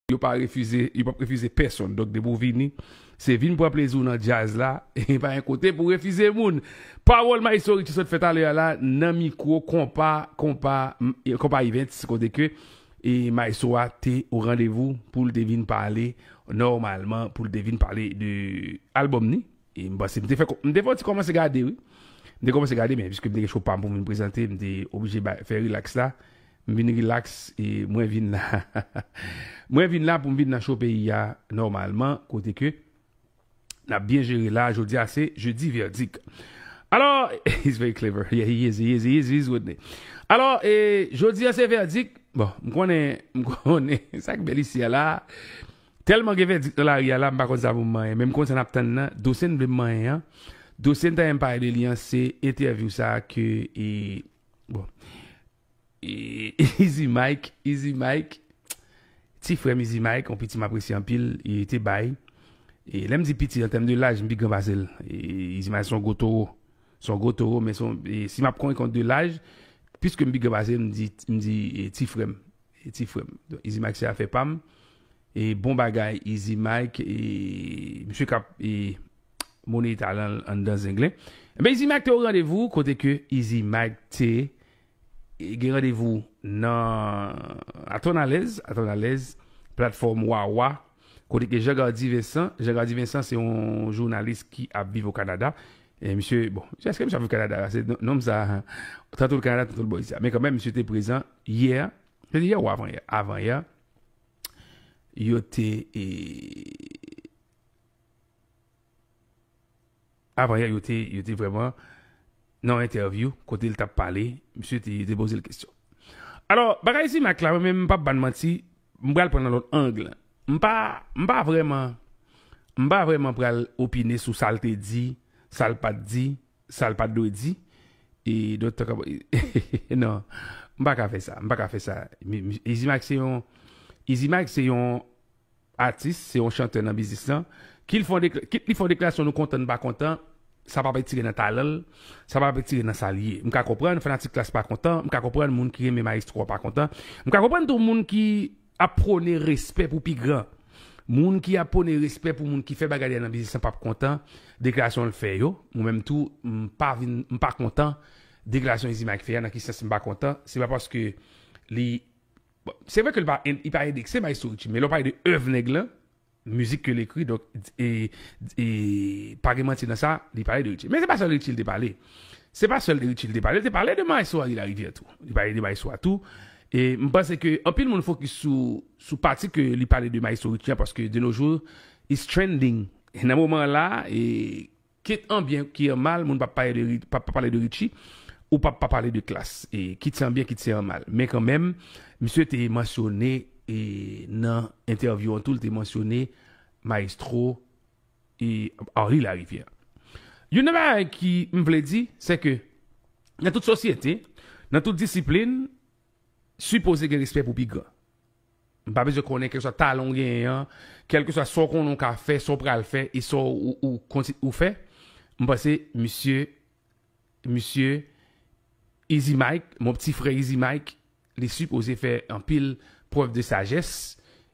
Yo pa refize, yo pap refize pèsonn. Donk depi w vini, se vin pran plezi w nan djaz la, e pa gen kote pou refize moun. Pawòl Maestro Richie sot fè talè a la nan mikwo konpa konpa konpa events kote ke e maestro a te o randevou pou l te vin pale nòmalman pou l te vin pale de albòm ni. E m panse m te fè m te fè yon ti kòmanse gade wi. M te kòmanse gade men piske m te gen cho pa m pou m vin prezante m te oblije bay fè rilaks la M vin relax e mwen vin la Mwen vin la pou m vin nan show peyi a nòmalman kote ke n ap byen jere la Jodi a se Jeudi Verdict Alò He's very clever Yeah he is, he is, he is, he is with me Alò e Jodi a se Verdict Bon m konnen M konnen Sa k bèl isi a la Tèlman gen Verdict nan lari a la m pa konn sa pou m manyen men m konn sa n ap tann nan Dosye n vle m manyen an Dosye n ta renmen pale de li an se entèvyou sa ke e bon Izi Mike Izi Mike Ti frèm Izi Mike yon piti m apresye anpil e te bay e lè m di piti an tèm de laj m pi gran pase l Izi Mike se yon gwo towo se yon gwo towo men se yon si m ap konte kont de laj piske m pi gran pase l m di m di ti frèm ti frèm Izi Mike se afè pa m e bon bagay Izi Mike e misye k ap e. Moni talan l anndan zenglen. Ebyen Izi Mike te yon randevou kote ke Izi Mike te gen randevou nan Atonalèz, Atonalèz, platfòm Wawa kote ke Jean Gardy Vincent, Jean Gardy Vincent se yon jounalis ki ap viv o Kanada. E misye, bon, eske misye ap viv Kanada? Pase nonm sa a, tanto l Kanada, tanto l bò izi a. Men kanmenm misye te prezan yè, se te yè ou avan yè? Avan yè, yo te e. Avan yè, yo te, yo te vrèman nan yon entèvyou kote li tap pale, misye te, yo te poze l kesyon. Alò, bagay Zimak la, mwen menm m pap ba n manti, m pral pran l nan lòt ang. M pa, m pa vrèman, m pa vrèman pral opine sou sa l te di, sa l pat di, sa l pat dwe di, e don talk about it non, m pa ka fè sa, m pa ka fè sa. Izimak se yon, Izimak se yon. Atis se yon chantè nan biznis lan, kit li fè yon deklarasyon nou kontan nou pa kontan, sa pap etire nan talan l, sa pap etire nan sa l ye. M ka konprann fanatik Klass pa kontan, m ka konprann moun ki renmen Mayestro an pa kontan, m ka konprann tou moun ki ap pwone respè pou pi gran. Moun ki ap pwone respè pou moun ki fè bagay li a nan biznis lan pap kontan deklarasyon l fè yo, mwen menm tou m pa vin m pa kontan deklarasyon Izi Mayk fè a, nan ki sans m pa kontan, se pa paske li Bon, se vre ke li pa endekse Maestro Richie, men lè w pale de èv nèg lan, mizik ke l ekri, donk, e, pa gen manti nan sa, li pale de Richie. Men se pa sèl de Richie li te pale. Se pa sèl de Richie li te pale, li te pale de Maestro Henri Larivière tou. Li pale de Maestro a tou. E m panse ke anpil moun fokis sou, sou pati ke li pale de Maestro Richie an, paske de no jou, it's trending. Nan moman an la, e. Kit an byen ki an mal moun pap pale de Richie ou pap pa pale de Klass kit se an byen kit se an mal men kan menm misye te mansyone nan entèvyou an tou li te mansyone Maestro Henri Larivière youn nan bagay ki m vle di se ke nan tout sosyete nan tout disiplin sipoze gen respè pou pi gran M pa bezwen konnen kèlkeswa talan w genyen an, kèlkeswa sa w konnen w ka fè, sa w pral fè e sa w kontinye ou fè. M panse misye, misye Izi Mayk, mon pti frè Izi Mayk, li sipoze fè anpil prèv de sajès,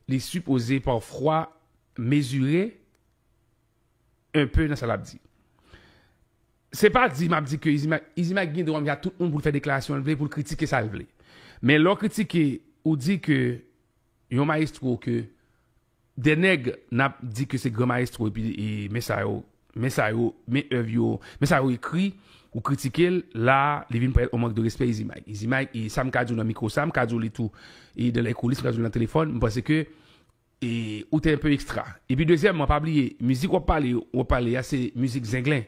li sipoze pafwa mezire enpe nan sa l ap di. Se pa di map di ke Izi Mak, Izi Mak gen dwa menm jan ak tout moun pou l fè deklarasyon l vle, pou l kritike sa l vle. Men lè w kritike, ou di ke yon mayestwo ke dè nèg nap di ke se gran mayestwo epi men sa yo, men sa yo, men èv yo, men sa yo ekri, ou kritike l, la a li vin parèt yon mank de respè Izi Mak. Izi Mak, e sa m ka di w nan mikwo sa, m ka di w li tou e dan lè koulis, m ka di w li nan telefòn, m panse ke Ou te enpe ekstra. Epi dezyèmman pa bliye mizik wap pale yo wap pale a se mizik zenglen.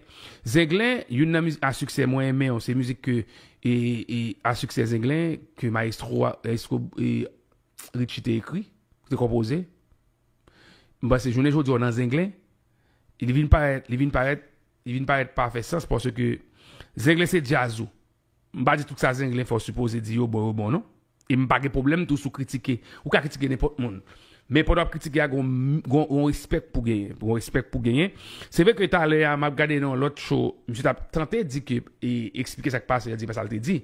Zenglen youn nan mizik a siksè mwen renmen yo se mizik ke a siksè zenglen ke mayestro Richie te ekri, te konpoze. M panse jounen jodi a w nan zenglen li vin parèt li vin parèt li vin parèt pa fè sans paske zenglen se djaz ou. M pa di tout sa Zenglen fè w sipoze di yo bon yo bon non. E m pa gen pwoblèm tou si w kritike. Ou ka kritike nenpòt moun. Men pandan w ap kritike a gen yon respè k pou genyen. Gen yon respè k pou genyen. Se vre ke talè a m ap gade nan yon lòt show, misye t ap tante di ke e eksplike sa k pase a di pa sa l te di.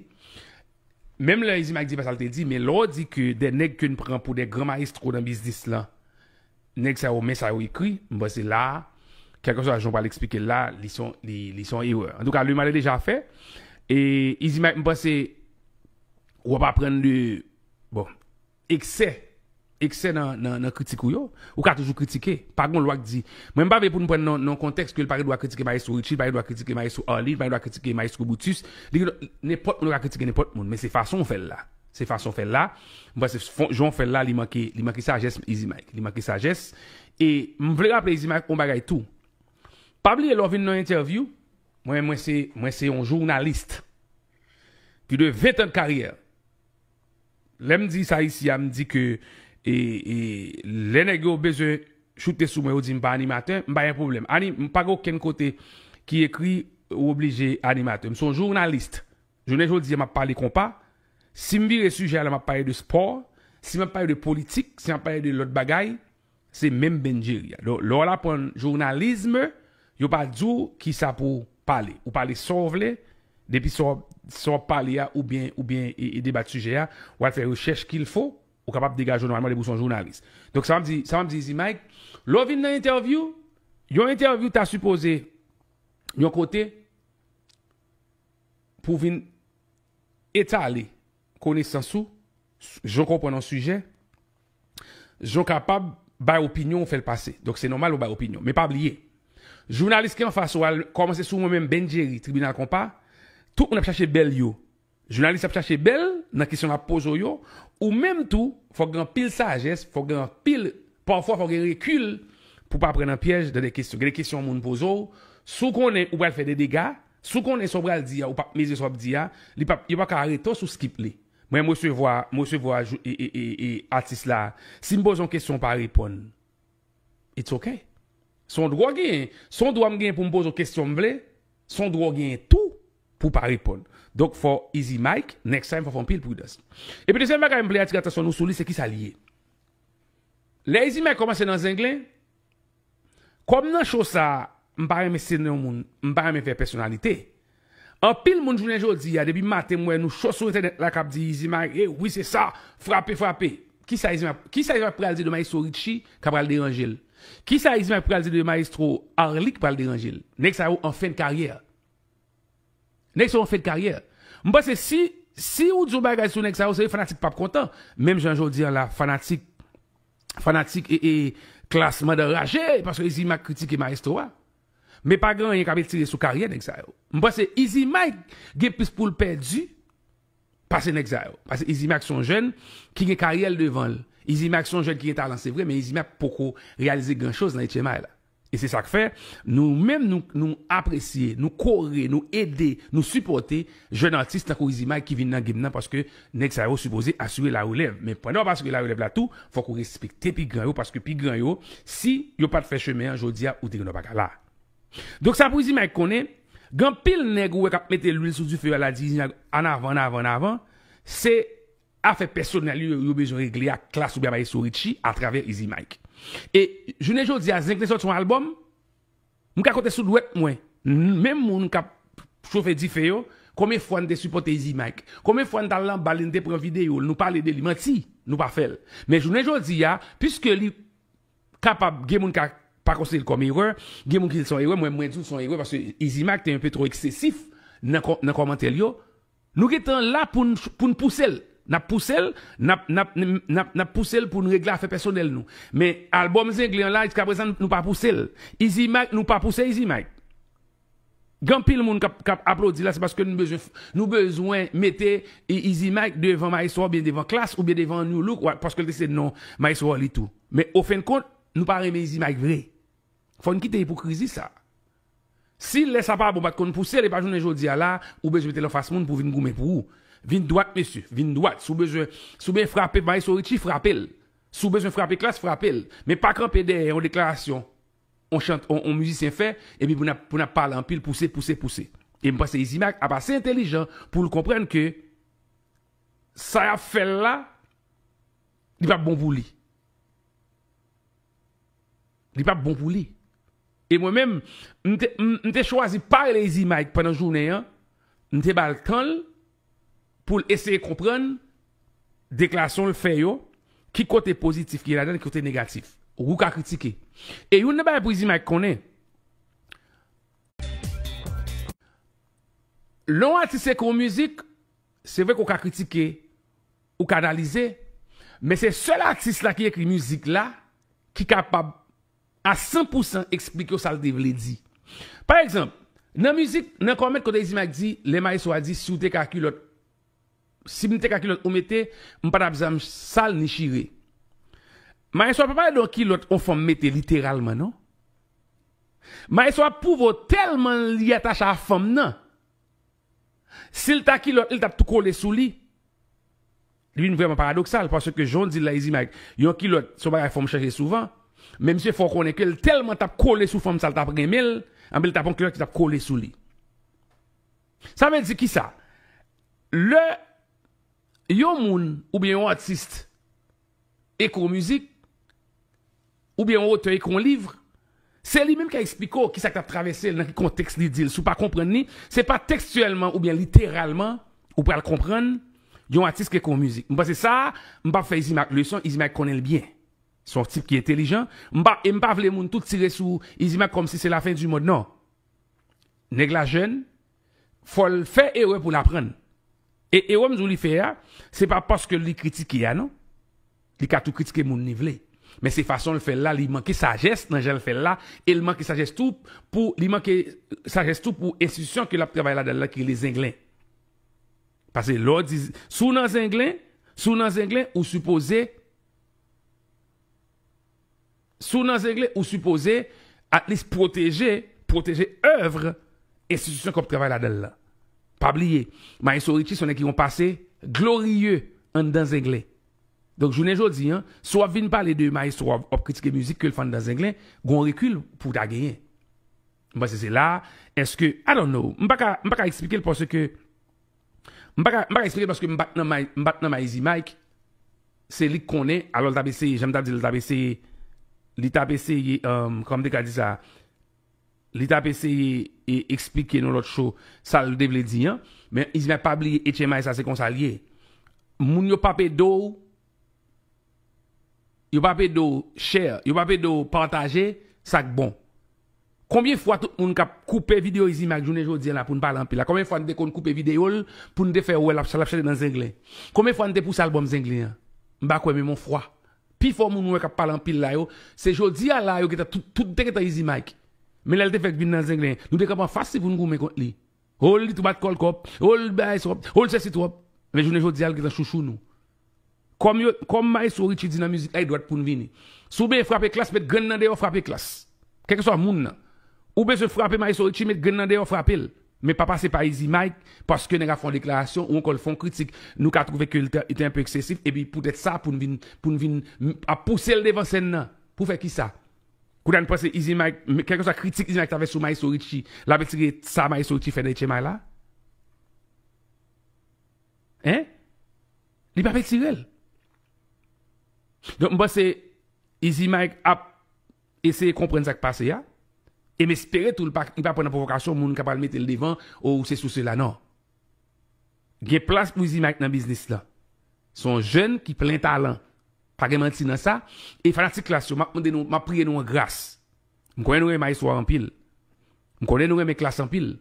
Menm lè Izi Mayk di pa sa l te di men lè w di ke de nèg ke n pran pou de gran mayestro nan biznis lan Nèg sa yo men sa yo ekri, m panse la a, kèlkeswa jan w pral eksplike l la a, li son, li, li son erè. Antouka, le mal est déjà fait. E Izi Mayk m panse w ap aprann de, bon, eksè, eksè nan, nan, nan kritik ou yo. Ou ka toujou kritike. Pa gen yon lwa ki di Mwen m pa vle pou n pran nan yon kontèks ke l pa gen dwa kritike Mayestwo Ritchi, l pa gen dwa kritike Mayestwo Arly, l pa gen dwa kritike Mayestwo Brutus. Li gen dwa, nenpòt moun ka kritike nenpòt moun, men se fason w fè l la. Se fason fèl la, m panse jan w fèl la li manke li manke sajès Izi Mike, li manke sajès e m vle raple Izi Mike on bagay tou. Pa bliye lè w vin nan entèvyou, mwen menm mwen se mwen se yon journaliste pi de 20 tan de karyè. Lè m di sa isi a m di ke e e lè nèg yo bezwen choute sou mwen yo di m pa animatè, m pa gen pwoblèm. Ani m pa gen okenn kote ki ekri ou oblije animatè. M se yon journaliste. Jounen jodi a map pale konpa, si m vire sijè a la map pale de spò, si map pale de politik, si map pale de lòt bagay, se menm Ben Jerry a. Donk lè w al aprann jounalism, yo pa di w kisa pou w pale. Ou pale sa w vle, depi sa w ap pale a oubyen oubyen debat sijè a, w al fè rechèch kil fo, ou kapab degaje w nòmalman depi w se yon jounalis. Donk sa map di, sa map di izi Mike, lè w vin nan entèvyou, yon entèvyou ta sipoze yon kote, pou vin etale konesans ou, jan w konprann yon sijè, jan w kapab bay opinyon ou fè l pase. Donk se nòmal ou bay opinyon. Men pa bliye, jounalis ki anfas ou a, kòmanse sou mwen menm Ben Jerry, Tribinal Konpa, tout moun ap chache bè l yo. Jounalis ap chache bè l nan kesyon l ap poze w yo. Ou menm tou, fò gen anpil sajès, fò gen anpil, pafwa fò gen rekil pou w pa pran nan pyèj nan de kesyon. Gen de kesyon moun poze w, si w konnen ou pral fè de dega, Si w konnen sa w pral di a ou pap mezire sa w ap di a, li pap yo paka arete w si w skip li. Mwen m resevwa m resevwa atis la si m poze yon kesyon ou pa reponn it's ok. Se yon dwa w genyen, se yon dwa m genyen pou m poze w kesyon m vle, se yon dwa w genyen tou pou w pa reponn. Donk fò Easy Mike next time fò w fè anpil pridans. Epi dezyèm bagay m vle atire atansyon nou sou li se kisa li ye. Lè Easy Mike kòmanse nan zenglen, Kòm nan show sa m pa renmen site non moun, m pa renmen fè pèsonalite. Anpil moun jounen jodi a depi maten m wè nou cho sou entènèt la k ap di Izi Maye wi se sa, frape frape. Kisa Izi Maye kisa Izi Maye pral di de Maestro Richie k ap pral deranje l? Kisa Izi Maye pral di de Maestro Arly k pral deranje l? Nèg sa yo an fen de karyè. Nèg sa yo fen de karyè. M panse si si ou di yon bagay sou nèg sa yo se vre fanatik pap kontan menm jan jodi an la fanatik fanatik klass mandan raje paske Izi Mak kritike maestro a men pa gen anyen k ap etire sou karyè nèg sa yo. M panse Izi Mak gen plis pou l pèdi pase nèg sa yo paske Izi Mak se yon jèn ki gen karyè l devan l Izi Mak se yon jèn ki gen talan se vre men Izi Mak poko reyalize gran choz nan etye may la. E se sak fè nou menm nou apresye, nou kore, nou ede, nou sipòte jèn atis tankou Izi Mike ki vin nan game nan paske nèg sa yo sipoze asire la relèv. Men pandan wap asire la relèv la tou fòk ou respekte pi gran yo paske pi gran yo si yo pat fè chemen an jodi a ou te genwa paka la. Donk sa pou Izi Mike konnen gen anpil nèg ou wè kap mete lwil sou dife yo al la di Izi Mike annavan annavan annavan se Afè pèsonèl yo yo bezwen regle ak Klass oubyen Maestro Richie atravè Izi Mike. E jounen jodi a Zenglen sòti yon albòm, m ka konte sou dwèt mwen menm moun k ap chofe dife yo konbyen fwa n te sipòte Izi Mike, konbyen fwa n t al nan bal li, n te pran videyo l, nou pale de li. Manti nou pa fè l. Men jounen jodi a, piske li kapab gen moun ka pa konsidere l kòm erè, gen moun ki di l se yon erè, mwen menm mwen di w se yon erè paske Izi Mike te yon pe twò eksesif nan kòmantè l yo, Nou gen tan la pou n pou n pouse l. N ap pouse l, n ap n ap n ap n ap pouse l pou n regle afè pèsonèl nou. Men, albòm Zenglen an la, jiskaprezan nou pa pouse l. Izi Mike, nou pa pouse Izi Mike. Gen anpil moun k ap k ap aplodi la, se paske nou bezwen nou bezwen mete Izi Mike devan Mayestwo oubyen devan Klass oubyen devan Nu Look wa paske l te se non Mayestwo Arly tou. Men, ofennkont, nou pa renmen Izi Mike vre. Fò n kite ipokrizi sa a. Si lè sa pa bon pat konn pousel epa jounen jodia la ou bezwen metel anfas moun pou vin goumen pou ou vin dwat mesye vin dwat si w bezwen si w ben frape maestro Richie frapel si w bezwen frape klass frapel men pa kanpe dèyè yon deklarasyon on chant on mizisyen fè epi pou nap pou nap pale anpil pouse pouse pouse em panse Izimac ap ase entelijan poul konprann ke sa yap fèl la li pap bon pou li li pap bon pou li. E mwen menm, m te chwazi pa rele Izi Mayk pandan jounen an, m te ba l tan l pou l eseye konprann deklarasyon l fè yo, ki kote pozitif ki ladan l, ki kote negatif. Ou ka kritike. E youn nan bagay pou Izi Mayk konnen, lè yon atis ekri yon mizik, se vre ke w ka kritike, ou ka analize, men se sèl atis la ki ekri mizik la ki kapab a san pou san eksplike w sa l te vle di. Pa egzanp, nan mizik Nan kò mèt kote Izimak di lè mayestwo a di si w te ka kilòt si m te ka kilòt ou mete m pa t ap janm sal ni chire mayestwo a pa pale de yon kilòt yon fanm mete literalman non mayestwo a ap pwouve w tèlman li atache a fanm nan si l ta kilòt li t ap tou kole sou li. Li vin vrèman paradoksal paske jan w di l la Izimag, yon kilòt se yon bagay fanm chanje souvan, men misye fè w konnen ke l tèlman t ap kole sou fanm sa l t ap renmen l, anben li t ap pran kilòt ki t ap kole sou li. Sa vle di kisa? Lè yon moun oubyen yon atis ekri yon mizik, Oubyen yon otè ekri yon liv, se li menm k a esplike w ki sa k t ap travèse l, nan ki kontèks li di l. Si w pa konprann li, se pa tekstyèlman oubyen literalman ou pral konprann yon atis ki ekri yon mizik. M panse sa a, m pa p fè Izimak leson, Izimak konnen l byen. Se yon tip ki entelijan, m pa, e m pa vle moun tout tire sou Izimak kòmsi se lafen di mond, non. Nèg la jèn, Fòl fè erè poul aprann. E erè m di w li fè a, se pa paske li kritike a non. Li ka tou kritike moun li vle. Men se fason l fè l la li manke sajès nan jan l fè l la e l manke sajès tou pou li manke sajès tou pou enstitisyon ke l ap travay ladan l la ki rele zenglen. Pase lè w di si w nan zenglen, si w nan zenglen ou sipoze. Si w nan Zengle, ou sipoze atlis pwoteje pwoteje èvre enstitisyon ke w ap travay ladan l lan. Pa bliye, Maestro Richie se yon nèg ki gen yon pase gloriye anndan Zengle. Donk jounen jodi, si w ap vin pale de Maestro a, w ap kritike mizik ke l fè anndan Zengle, gen yon rekil pou w ta genyen. M panse se la a, èske, I don't know, m pa ka, m pa ka eksplike l paske M pa ka eksplike paske m pat nan Maizey Mike, se li k konnen, alò l t ap eseye, jan m ta di l, li t ap eseye, li t ap eseye, kòman m te ka di sa, li t ap eseye eksplike nou lòt cho sa l te vle di an, men Izi Mak pa bliye HMI sa se konsa l ye, moun yo p ap ede w. Yo pap ede w share, yo pap ede w pataje sak bon. Konbyen fwa tout moun kap koupe video Izime ak jounen jodi an la poun pale anpil la konbyen fwa nou te konn koupe video l pou nou te fè wè lap chante nan zenglen konbyen fwa nou te pouse album zenglen an mpa kwè men mon fwa pifò moun ou wè kap pale anpil la yo se jodi a la yo gentan tout te gentan Izimike men lèl te fèk vin nan zenglen nou te kanpe anfas li poun goumen kont li. Oh li tou bat kòl twòp, oh li bay twòp, oh li sesi twòp. Men jounen jodia li gentan chouchou nou. Kòm yo, kòm maestro Richie di nan mizik la e dwat poun vini. Si w benyen frape klass met grenn nan deyò frape klass. Kèlkeswa moun nan. Ou bezwen frape maestro Richie met grenn nan deyò frape l. Men pa pase pa Easy Mike paske nèg a fè yon deklarasyon ou ankò l fè yon kritik nou ka twouve ke l te te anpe eksesif epi poutèt sa poun vin poun vin ap pouse l devan sèn nan. Pou fè kisa? Kounye a n pase Izi Mayk, kèlkeswa kritik Izi Mayk ta fè sou Maestro Richie, l ap etire sa Maestro Richie fè nan Etchemay la? Hein? Li p ap etire l. Donk m panse Izi Mayk ap eseye konprann sa k pase a, e m espere tou li pa pran nan pwovokasyon moun k ap pral mete l devan, o ou sesi ou sela, non. Gen plas pou Zimike nan biznis lan. Se yon jèn ki plen talan. Pa gen manti nan sa. E fanatik Klass yo, m ap mande nou, m ap priye nou an gras. M konnen nou renmen Maestro a anpil. M konnen nou renmen Klass anpil.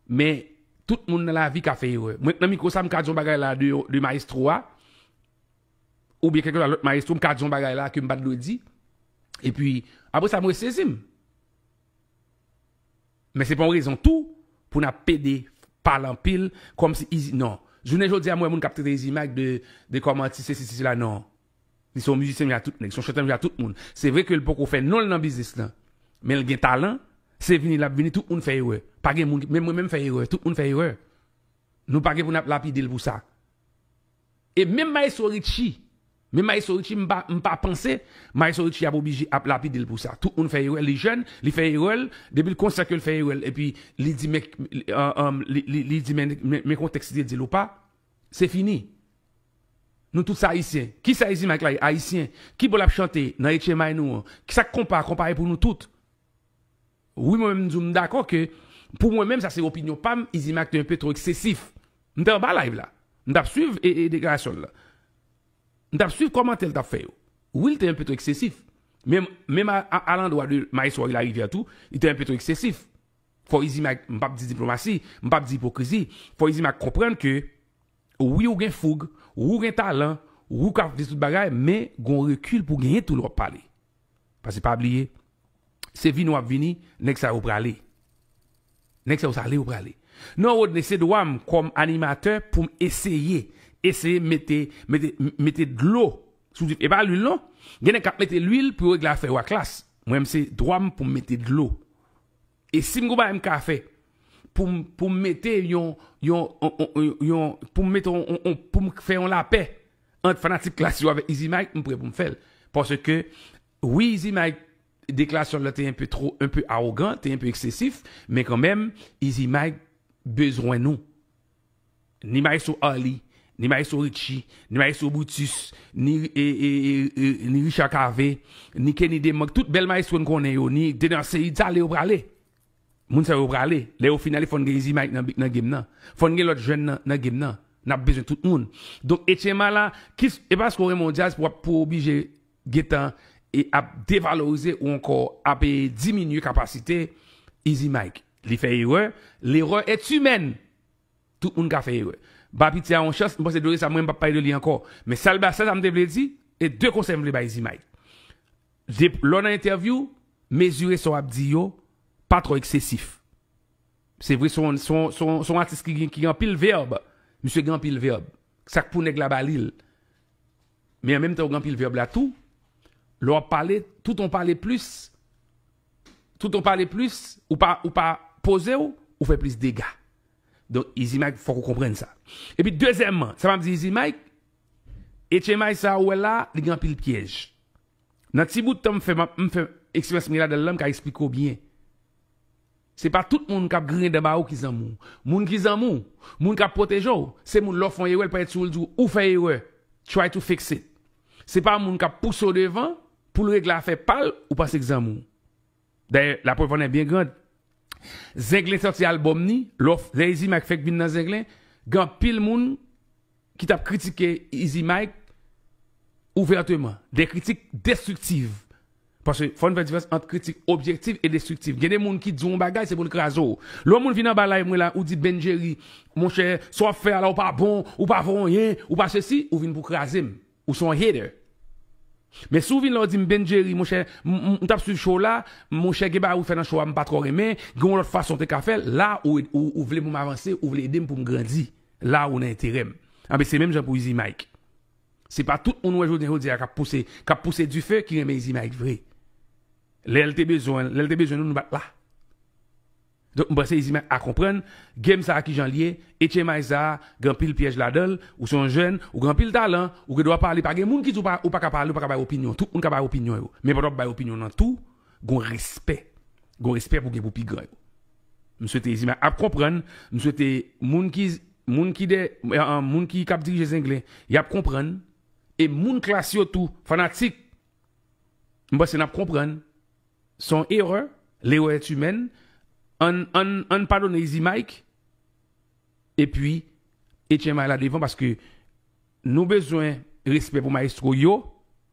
Men, tout moun nan lavi ka fè erè. Mwen k nan mikwo sa, m ka di yon bagay la de Maestro a, oubyen kèlkeswa lòt Maestro, m ka di yon bagay la ke m pa t dwe di. Epi, apre sa m resezi m. Men se pa yon rezon tou pou nap pede pale anpil komsi izi non jounen jodi a m wè moun kap trete izi mak de de kom atis sesi si sela non li se yon mizisyen menm jan a tout nèg se yon chantè menm jan a tout moun se vre ke l poko fè non l nan biznis lan men l gen talan se vini lap vini tout moun fè erè pa gen moun menm mwen menm fè erè tout moun fè erè nou pa gen pou nap lapide l pou sa. E menm maestro Richie menm maestro Richie m pa m pa panse maestro Richie ap oblije ap lapidel pou sa tout moun fè erè li jèn li fè erèl depil konsyan kel fè erèl epi li di men li di men men kontèks li te dil ou pa se fini nou tout se ayisyen kisa Izi Mike la ye ayisyen kibò lap chante nan etchemay nou an sak konpa konpa e pou nou tout. Wi mwen menm m di w m dakò ke pou mwen menm sa se opinyon pa m Izimac te enpe two eksesif. M te anba live la. M t ap swiv deklarasyon l lan. M t ap swiv kòmantè l t ap fè yo. Wi l te enpe two eksesif. Men menm alandwa de Maestro Henri Larivière tou li te enpe two eksesif. Fò Izimac, m p ap di diplomasi, m p ap di ipokrizi, fò Izimac konprann ke wi ou gen foug, wi ou gen talan, wi ou ka fè tout bagay men gen yon rekil pou w genyen tou lè w ap pale. Paske pa bliye, se vini wap vini, nèg sa yo prale. Nèg sa yo sa ale yo prale. Non Rodney, se dwa m kòm animatè pou m eseye, eseye mete, mete, mete dlo sou dife. E pa lwil non. Gen nèg k ap mete lwil pou yo regle afè yo ak Klass. Mwen menm se dwa m pou m mete dlo. E sim gon bagay m ka fè pou m pou m mete yon yon yon pou m mete yon pou m fè yon lapè ant fanatik klass yo avèk Izi Mike m prè pou m fè l paske wi Izi Mike deklarasyon l la te enpe two enpe awogan te enpe eksesif men kanmenm Izi Mike bezwen nou. Ni maestro Arly, ni maestro Richie, ni maestro Brutus, ni ni Richard Cavé, ni Kenny Demange, tout bèl maestro n konnen yo, ni Dener Ceïde, sa ale yo prale. Moun sa yo prale. Lè yo fin ale fò n gen Easy Mike nan game nan. Fò n gen lòt jèn nan nan game nan. N ap bezwen tout moun. Donk Etchen Mala, kis e paske w renmen yon djaz pou w ap pou w oblije gentan e ap devalorize ou ankò ap e diminye kapasite Izi Mike. Li fè erè, l'erreur est humaine! Tout moun ka fè erè. Ba piti a yon chans, m panse dosye sa mwen m pap pale de li ankò. Men sa l ba sè sa m te vle di, e 2 konsèy m vle bay Izi Mike. De lè w nan entèvyou, mezire sa w ap di yo, pa twò eksesif. Se vre se yon se yon se yon atis ki gen anpil verb, misye gen anpil verb. Sa k pou nèg la ba li l. Men an menm tan ou gen anpil vèb la tou, lè w ap pale, tout an w pale plis, tout an w pale plis, ou pa, ou pa poze w, ou fè plis dega. Donk Izi Mayk fòk ou konprann sa. Epi dezyèmman, sa m ap di Izi Mayk, etchemay sa a ou wè la a, li gen anpil pyèj. Nan ti bout tan m fè, m ap, m fè eksperyans m gen ladan l lan, m ka esplike w byen. Se pa tout moun kap griyen dan ba ou ki zanmi w. Moun ki zanmi w, moun kap pwoteje w, se moun lè w fè yon erè li pa ret sou ou li di w ou fè erè, try to fix it. Se pa moun kap pouse w devan pou l regle afè pa l ou panse k zanmi w. Dayè laprèv annè byen grand. Zenglen sòti album ni, lè w fè, lè Izi Mike fèk vin nan zenglen, gen anpil moun. ki tap kritike Izi Mike ouvèteman, de kritik destriktiv, paske fò n fè diferans ant kritik objektif e destriktif, gen de moun ki di w yon bagay se pou l kraze w, lè yon moun vin anba live mwen la ou di Ben Jerry monchè sa w ap fè a la ou pa bon, ou pa vo anyen, ou pa sesi, ou vin pou kraze m. Ou son hater. Men si w vin la w di m Ben Jerry monchè m tap swiv show w la monchè gen bagay ou fè nan show a m pa twò renmen gen yon lòt fason w te ka fè l la ou vle pou m avanse ou vle ede m pou m grandi la ou nan enterè m anben se menm jan pou Izi Mike se pa tout moun w wè jounen jodi a k ap pouse k ap pouse dife ki renmen Izi Mike vre lè l te bezwen lè l te bezwen nou nou pa t la. Donk m panse Izime a konprann game sa kijanl ye e tchemay sa gen anpil pyèj ladanl, ou se yon jèn, ou gen anpil talan, ou gen dwa pale pa gen moun ki di ou paka pale ou paka bay opinyon, tout moun ka bay opinyon yo, men pandan wap bay opinyon nan tou gon respè, gon respè pou gen pou pi gran yo. M swete Izime ap konprann, m swete moun ki moun ki dè moun ki kap dirije Zenglen yap konprann e moun klas yo tou fanatik m panse nap konprann. Son erreur, l'erreur est humaine, ann ann ann padone Izi Mike epi Etyen May la devan paske nou bezwen respè pou maestro yo,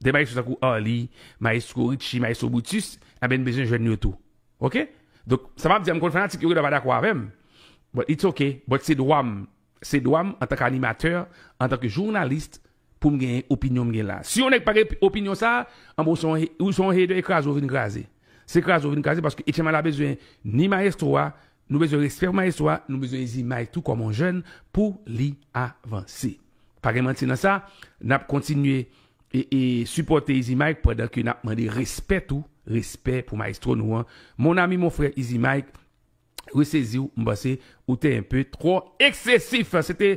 de maestro tankou Arly, maestro Richie, maestro Brutus, anben n bezwen jèn yo tou ok donk sa map di a m konn fanatik yo genlè pa dakò avèm but it's ok but se dwa m Se dwa m antanke animatè, antanke journaliste pou m genyen opinyon m gen la. Si yon nèg pa gen opinyon sa, anben w se yon ou se yon hater e kraze w vin kraze. Se kraze w vin kraze paske Etchenn Mala bezwen ni mayestwo a, nou bezwen respè pou mayestwo a, nou bezwen Zimay tou kòm yon jèn pou li avanse. Pa gen manti nan sa, n ap kontinye e e sipòte Izi Mike pandan ke n ap mande respè tou, respè pou mayestwo nou an. Mon ami, mon frère Izi Mike, resezi w, m panse ou te un peu twò eksesif. Se te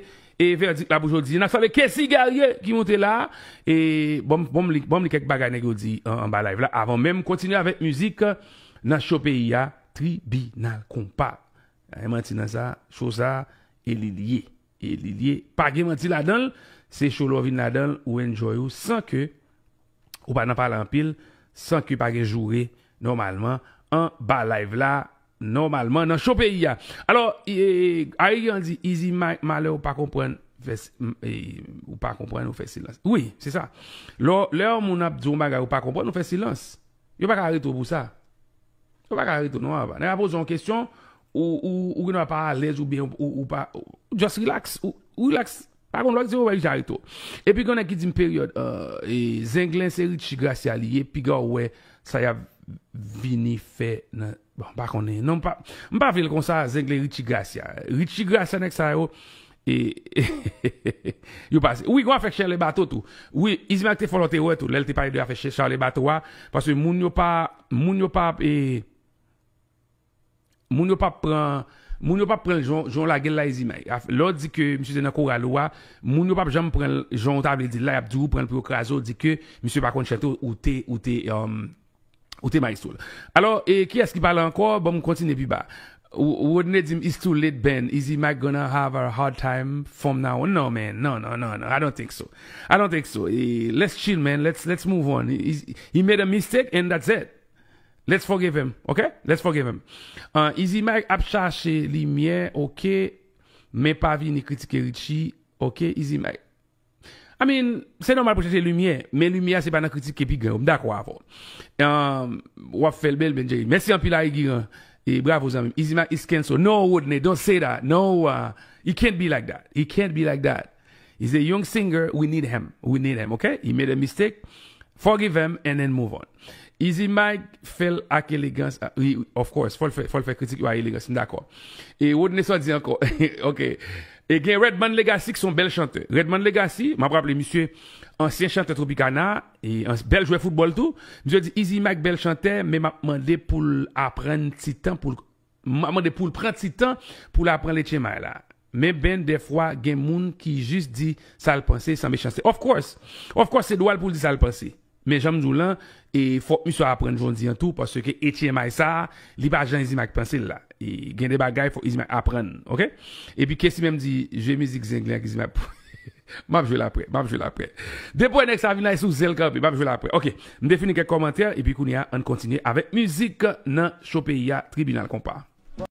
vèdik la pou jodi. N ap salye Kessy Guerrier ki monte la. E ban m li kèk bagay nèg yo di anba live la avan menm kontinye avèk mizik nan cho peyi a, Tribinal Konpa. Gen manti nan sa, cho sa e li l ye. E li liye pa gen manti ladanl se show lè w vin ladanl ou enjoy ou san ke ou pa nan pale anpil san ke pa gen joure nòmalman anba live la nòmalman nan show peyi a alò Ari Guerant di Izi malè ou pa konprann ou pa konprann ou fè silans wi se sa lè yon moun ap di yon bagay ou pa konprann ou fè silans yo pa ka arete w pou sa. Ou pa ka ri tou non Ava. Nèg la poze w yon kesyon, ou gendwa pa alèz oubyen ou pa just relax, ou relax. Pa gen lwa ki di ou pa ka ri tou. Epi gen yon nèg ki di m peryòd Zenglen se Ritchie Gracia li ye piga w wè sa y ap vini fè nan bon m pa konnen non m pa vle l konsa Zenglen Ritchie Gracia. Ritchie Gracia nèg sa yo Yo pa se. Wi gon afè chè le bato tou. Wi Ismael te fon lot erè tou lel te pale de afè chè chale bato a paske moun yo pa moun yo pa e moun yo pa pran moun yo pa pran jan w lagel la Izimay le w di ke misye te nan koral ou a moun yo pap janm pranl jan w ta vle dil la yap diw ou pranl pou yo kraze w di ke misye pa konn chante ou te ou te Ou te maestro l. Alò, e kiyès ki pale ankò? Banm kontinye pi ba. Rodney di m it's too late Ben, Easy Mac gonna have a hard time from now on No man, no, no, no, no, I don't think so. I don't think so. Let's chill man, let's, let's move on. He made a mistake and that's it. Let's forgive him, ok? Let's forgive him. Easy Mac ap chache limyè, ok, men pa vini kritike Richie, ok, Easy Mac. I mean, se nòmal pou chèche limyè, men limyè a se pa nan kritike pi gran yo. M dakò avè w. Ou ap fè l bèl Ben Jerry. Mèsi anpil a Egiran. E bravo zanmi m. Izimak is cancel. No Rodney, don't say that. No, he can't be like that. He can't be like that. He's a young singer, we need him. We need him, ok? He made a mistake. Forgive him and then move on. Izimak fè l ak elegans. Of course, fò l fè kritik yo a elegans. M dakò. E Rodney sa w di ankò? Ok. E gen Redman Legacy ki son bèl chantè. Redman Legacy, m ap raple misye ansyen chantè Tropicana, e bèl jwè foutbòl tou. Misye di Izi Mayk bèl chantè, men m ap mande pou l aprann ti tan pou l m ap mande pou l pran ti tan pou l aprann Leche May la. Men Ben dèfwa gen moun ki jis di sa l panse san mechanste. Of course! Of course se dwa l pou l di sa l panse. Men janm diw lan e fok misye aprann jondi an tou paske htmi sa li pa jan izimag pansel la e gen de bagay fok izimag aprann ok epi kessy menm di jwe mizik zenglen ak izimag pou map jwel aprè map jwel aprè depi wè nèg sa vin la e sou zel kanpe map jwel aprè ok m te fini kèk kòmantè epi kounya ann kontinye avèk mizik nan cho peyi a tribinal konpa.